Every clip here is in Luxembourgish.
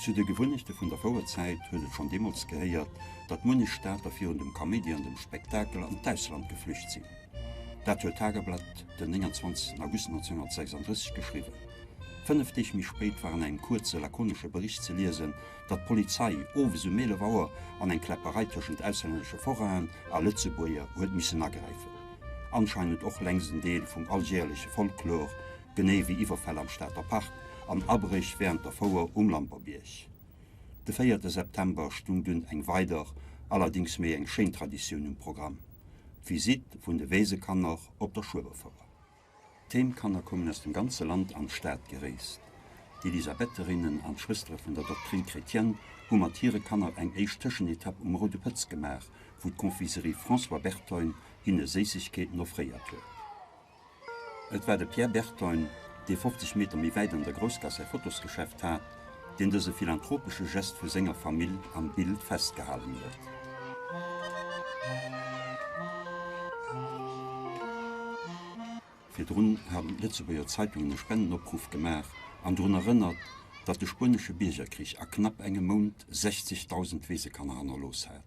Zu de Gewunnechte vun der Fouerzäit huet et schonn deemools gehéiert, datt munnech Stater virun dem Kaméidi an dem Spektakel an d'Ausland geflücht sinn. Dat huet d'Tageblatt den 29 August 1936 geschriwwen. Fënnef Deeg méi spéit war an engem kuerze lakonesche Bericht ze liesen, datt d'Polizei owes um 11 Auer an eng Kläpperei tëschent auslännesche Forainen a Lëtzebuerger huet missen agräifen. Anscheinend och längs en Deel vum aljeerlesche Folklor, genee wéi Iwwerfäll am Stater Park an Abréch wärend der Fouer um Lamperbierg de véierte September stung dunn eng weider, allerdéngs méi eng schéin Traditioun um Programm, d'Visitt vun de Weesekanner op der Schueberfouer. D'Heemkanner koumen aus dem ganze Land an d'Stad gereest. D'Elisabetherinnen an d'Schwëstere vun der Doctrine chrétienne hu mat hire Kanner eng éischt Tëschenetapp um Roude Pëtz gemaach, wou d'Confiserie François Berthogne hinne Séissegkeeten offréiert huet. Et war de Pierre Berton, dee 50 Meter méi wäit an der Groussgaass säi Fotosgeschäft hat, deen dëse philanthropesche Gest vu senger Famill am Bild festgehalen huet. Virdrun haten d'Lëtzebuerger Zeitungen e Spendenopruff gemaach an drun erënnert, datt de Spuenesche Biergerkrich a knapp engem Mount 60.000 Weesekanner hannerlooss hat.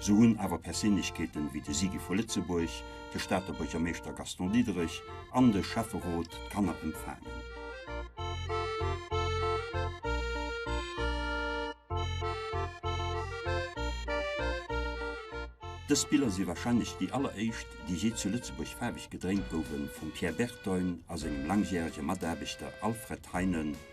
Sou hunn awer Perséinlechkeeten ewéi de Sigi vu Lëtzebuerg, de Stater Buergermeeschter Gaston Diederich an de Schäfferot d'Kanner empfaangen. Dës Biller si warscheinlech déi alleréischt, déi jee zu Lëtzebuerg faarweg gedréint gouwen, vum Pierre Bertoin a sengem langjärege Mataarbechter Alfred Heinen.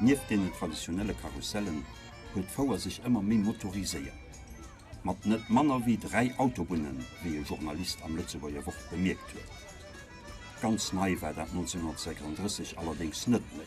Nieft deenen traditionelle Karussellen huet d'Fouer sech ëmmer méi motoriséiert. Mat net manner wéi dräi Autobunnen, wéi e Journalist am Lëtzebuerger Wort bemierkt huet. Ganz nei war dat 1936 allerdéngs net méi.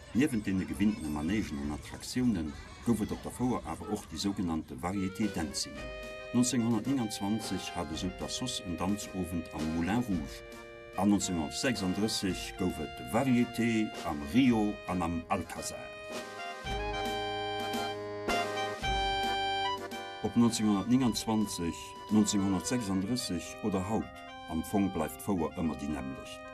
Niewent deene gewinnene Manègen an Attraktiounen gouf et op der Fouer awer och déi sougenannte Variété Dancing. 1929 hat esou d'Assoss en Danzowend am Moulin Rouge. An 1936 gouf et de Variété am Rio an am Alcazar. Ob 1929, 1936 oder haut, am Fong bleift d'Fouer ëmmer déi nämmlecht.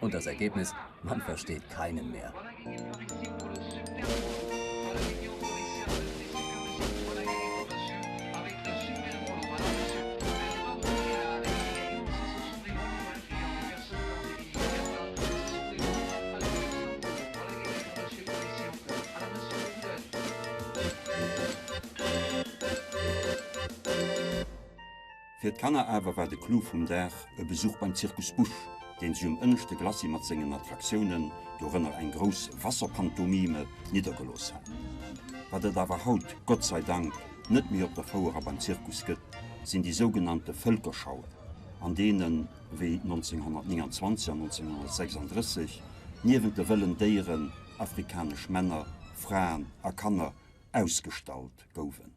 Und das Ergebnis, man versteht keinen mehr. Fir d'Kanner awer war de Clou vum Dag e Besuch beim Zirkus Busch, deen sech um ënneschte Glacis mat sengen Attraktiounen, dorënner eng grouss Wasserpantomime, niddergelooss hat. Wat et awer haut, Gott sei Dank, net méi op der Fouer a beim Zirkus gëtt, sinn déi sougenannte Vëlkerschauen, an deenen, wéi 1929 an 1936, niewent de wëllen Déieren, afrikanesch Männer, Fraen a Kanner ausgestallt gouwen.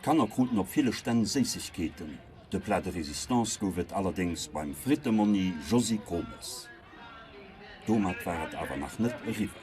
D'Kanner kruten op ville Stänn Séissegkeeten. De Plat de résistance gouf et allerdéngs beim Frittemonni Josy Gromes. Domat war et awer nach net eriwwer.